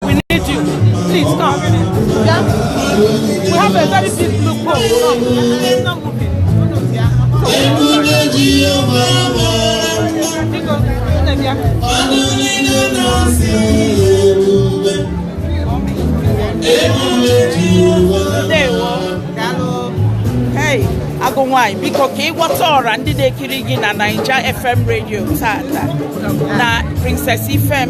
We need you. Please come. Yeah? We have a very big blue boat. Come. Biko, unu bịa. Ndewo. Daalụ. Hey, agụ nwanyị biko ka ị gwatụ ọra ndị na-ekiri gị na Naija FM radio tata na Princess Ifem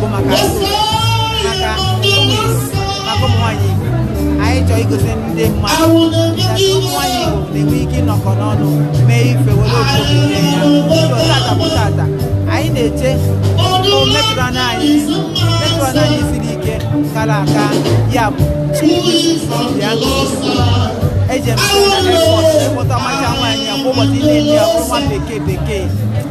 bụ maka maka ụmụ nwaanyị Igbo anyị chọọ igosi ndị mmadụ ụmụ nwaanyị Igbo na-enwe ike ịnọkọ n'ọnụ mee ife were obodo ya tata bụ tata anyị na-eche metụrụ anya anyị metụrụ anya anyị siri ike kara aka ya bụ eji emepụta ọmacha nwaanyị ya kwa ụbọchị na-enye ya nwa bekee bekee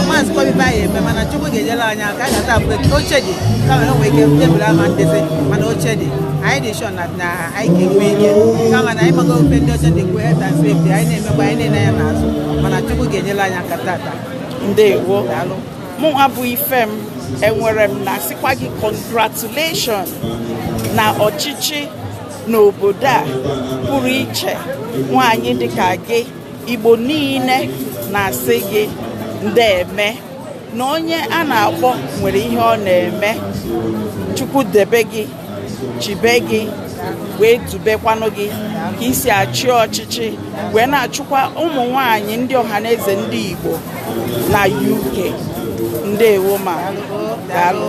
amaghịzi kwa ibe anyị eme mana chukwu ga-enyere anyị aka a ga-ata abụrụ eke oche dị kama na o nwere ike tebụl ama ndezi mana oche dị anyị dị sure na na anyị ga-enwe ike kama na ị mago ife ndị ọcha na-ekwu health and safety anyị na-emekwa anyị na-ele anya n'azụ mana chukwu ga-enyere anyị aka tata ndewo daalụ mụnwa bụ Ifem ewere m na-asịkwa gị congratulation na ọchịchị n'obodo a pụrụ iche nwaanyị dịka gị Igbo niile na-asị gị ndeeme na onye a na-akpọ nwere ihe ọ na-eme Chukwu debe gị chebe gị wee dubekwanụ gị ka i si achị ọchịchị wee na-achịkwa ụmụ nwanyị ndị ọhaneze ndị Igbo na UK ndewo ma daalụ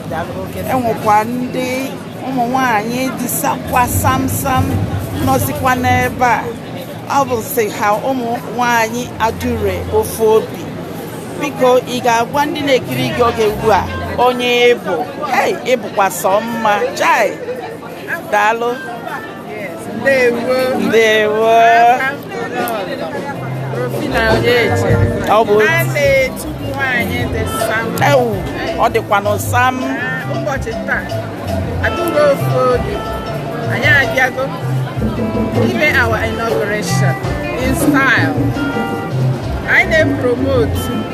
e nwekwa ndị ụmụ nwanyị dị sakwa samsam nọzikwa n'ebe a ọ bụsị ha ụmụ nwanyị Adure ofu obi biko ị ga-agwa ndị na-ekiri gị oge ugbu a onye ị bụ hey ị bụkwa sọ mma chai daalụ ndewo ọ bụ ewo ọ dịkwanụ sam ụbọchị taa Adure ofu obi anyị abịago ime our inauguration in style anyị na-epromote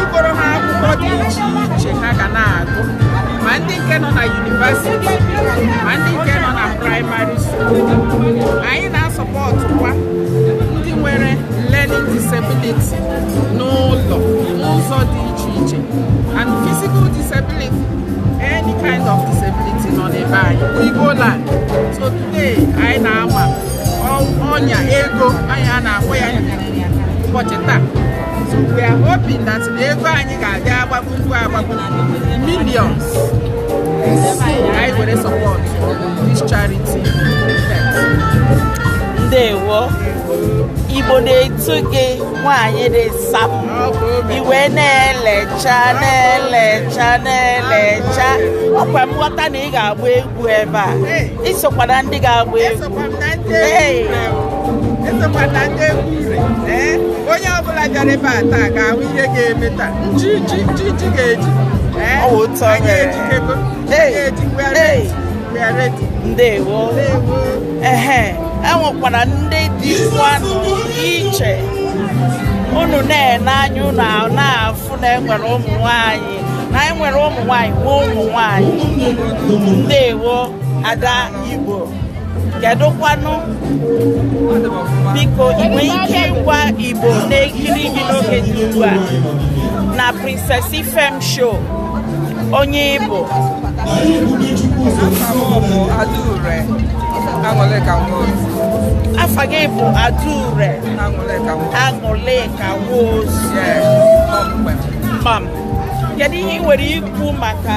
igoro ha akwụkwọ dị iche iche ha ga na-agụ ma ndị nke nọ na university ma ndị nke nọ na primary school anyị na-asupportụkwa ndị nwere learning disability n'ụlọ n'ụzọ dị iche iche and physical disability any kind of disability nọ n'ebe anyị Igbo land so today anyị na-ama ọnya ego anyị a na-akpọ ya ụbọchị taa We are hoping that na ego anyị ga-abịa agbagbu mgbu agbagbu millions anyị were support this charity ndewo Igbo na-etu gị nwaanyị dị sam ị wee na-elecha na-elecha na-elecha ọkwa m ghọta na ị ga-agba egwu ebe a ị sokwa na ndị ga-agba egwu onye ọbụla bịara ebe a taa ga-ahụ ihe ga-eme taa ji ji ji ji ga-eji anyị ejikego ga-eji mgbe ndewo ehe enwekwara ndị dịkwanụ iche unu na-ene anya unu na-afụ na enwere ụmụ nwanyị na enwere ụmụ nwanyị nwee ụmụ nwanyị ndewo ada Igbo kedụkwanụ biko ị nwere ike ịgwa Igbo na-ekiri gị n'oge dị ugbu a na Princess Ifem show onye ị bụ afa gị bụ Adaure Aṅụlịka Nwosu mam kedu ihe ị nwere ikwu maka